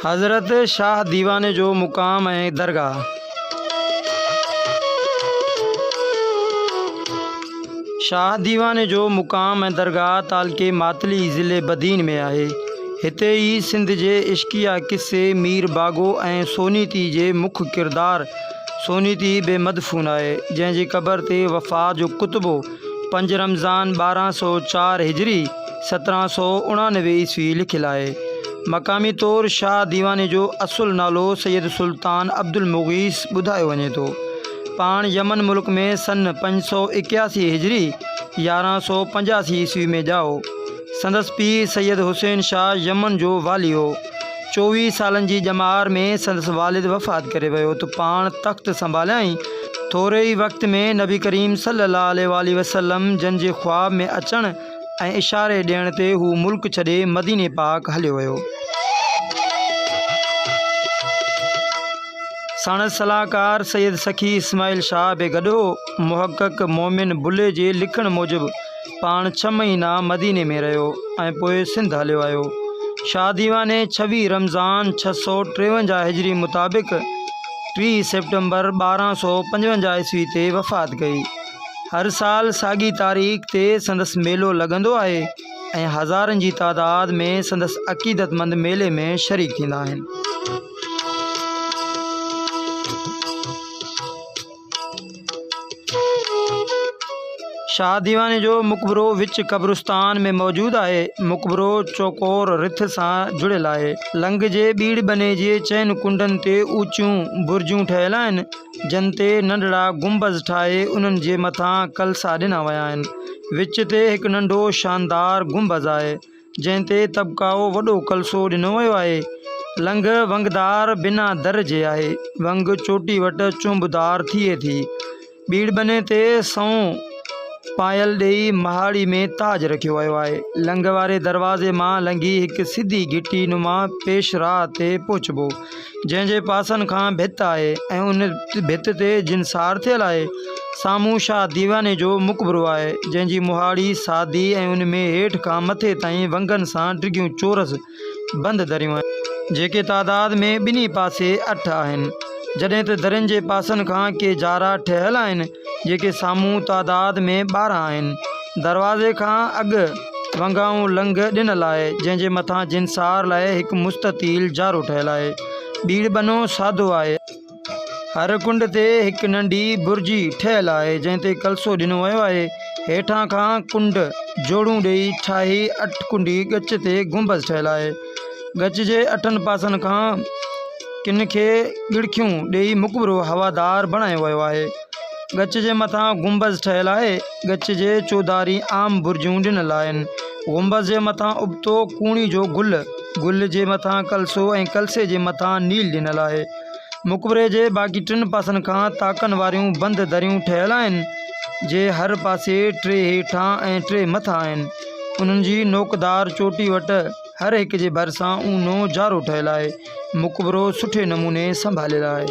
حضرت شاهه ديواني جو مقام ۽ درگاهه شاهه ديواني جو مقام ۽ درگاهه تعلقي ماتلي ضلعي بدين ۾ آهي هتي ئي سنڌ جي عشقيه قصي مير باگو ۽ سونيتي جي مک ڪردار سونيتي به مدفون آهي، جنهن جي قبر تي وفا جو ڪتبو پنج رمضان ٻارهن سؤ چار هجري سترهن سؤ اڻانوي عيسوي لکيل آهي. مقامي طور شاهه ديواني جو اصل نالو سيد سلطان عبدالمغيث ٻڌايو وڃي ٿو. پاڻ يمن ملڪ ۾ سن پنج سؤ ايڪياسي هجري يارهن سؤ پنجاسي عيسوي ۾ ڄائو. سندس پيء سيد حسين شاهه يمن جو والي هو. چوويهه سالن جي ڄمار ۾ سندس والد وفات ڪري ويو ته پاڻ تخت سنڀاليائين. ٿوري ئي وقت ۾ نبي ڪريم صلي الله عليه واٰله وسلم جن جي خواب ۾ اچڻ ۽ اشاري ڏيڻ تي هو ملڪ ڇڏي مديني پاڪ هليو ويو. ساڻس صلاحڪار سيد سخي اسماعيل شاهه به گڏ هو. محقق مومن بلهي جي لکڻ موجب، پاڻ ڇهه مهينا مديني ۾ رهيو ۽ پوء سنڌ هليو آيو. شاهه ديواني ڇويهه رمضان ڇهه سؤ ٽيونجاهه هجري مطابق ٽيهه سيپٽمبر ٻارهن سؤ پنجونجاهه عيسوي تي وفات ڪئي. هر سال ساڳي تاريخ تي سندس ميلو لڳندو آهي ۽ هزارن جي تعداد ۾ سندس عقيدتمند ميلي ۾ شريڪ ٿيندا آهن. شاهه ديواني جو مقبرو وچ قبرستان ۾ موجود آهي. مقبرو چوڪور رٿ سان جڙيل آهي. لنگهه جي ٻيڙ ٻني جي چئن ڪنڊن تي اوچيون برجون ٺهيل آهن، جن تي ننڍڙا گنبذ ٺاهي انهن جي مٿان ڪلسا ڏنا ويا آهن. وچ تي هڪ ننڍو شاندار گنبذ آهي. جنهن تي طبقائو وڏو ڪلسو ڏنو ويو آهي. لنگهه ونگدار بنا در جي آهي. ونگ چوٽي وٽ چونبدار ٿئي ٿي. ٻيڙ ٻني تي سنئون پايل ڏيئي مهاڙي ۾ تاج رکيو ويو آهي. لنگهه واري دروازي مان لنگهي هڪ سڌي گهٽي نما پيش راهه تي پهچبو. جنهن جي پاسن کان ڀت آهي ۽ ان ڀت تي جن سار ٿيل آهي، سامهون شاهه ديواني جو مقبرو آهي، جنهن جي مهاڙي سادي ۽ ان ۾ هيٺ کان مٿي تائين ونگن سان ڊگهيون چورس بند دريون آهن. جيڪي تعداد ۾ ٻنهي پاسي اٺ آهن، جڏهن ته درين جي پاسن کان ڪي جارا ٺهيل آهن، جيڪي سامهون تعداد ۾ ٻارهن آهن. دروازي کان اڳ ونگائون لنگهه ڏنل آهي، جنهن جي مٿان جنسار لاء هڪ مستطيل جارو ٺهيل آهي. ٻيڙ ٻنو سادو آهي. هر ڪنڊ تي هڪ ننڍي برجي ٺهيل آهي، جنهن تي ڪلسو ڏنو ويو آهي. هيٺان کان ڪنڊ جوڙون ڏيئي ٺاهي اٺ ڪنڊي ڳچ تي گنبذ ٺهيل آهي. ڳچ جي اٺن پاسن کان. ڪن کي ڳڙکيون ڏيئي مقبرو هوادار بڻايو ويو آهي. ڳچ جي مٿان گنبذ ٺهيل آهي. ڳچ جي چوڌاري عام برجون ڏنل آهن. گنبذ جي مٿان ابتو ڪوڻي جو گل، گل جي مٿان ڪلسو ۽ ڪلسي جي مٿان نيل ڏنل آهي. مقبري جي باقي ٽن پاسن کان تاڪن واريون بند دريون ٺهيل آهن، جي هر پاسي ٽي هيٺان ۽ ٽي مٿان آهن. انهن جي نوڪدار چوٽي وٽ. هر هڪ جي ڀرسان اونو جارو ٺهيل آهي. مقبرو سٺي نموني سنڀاليل آهي.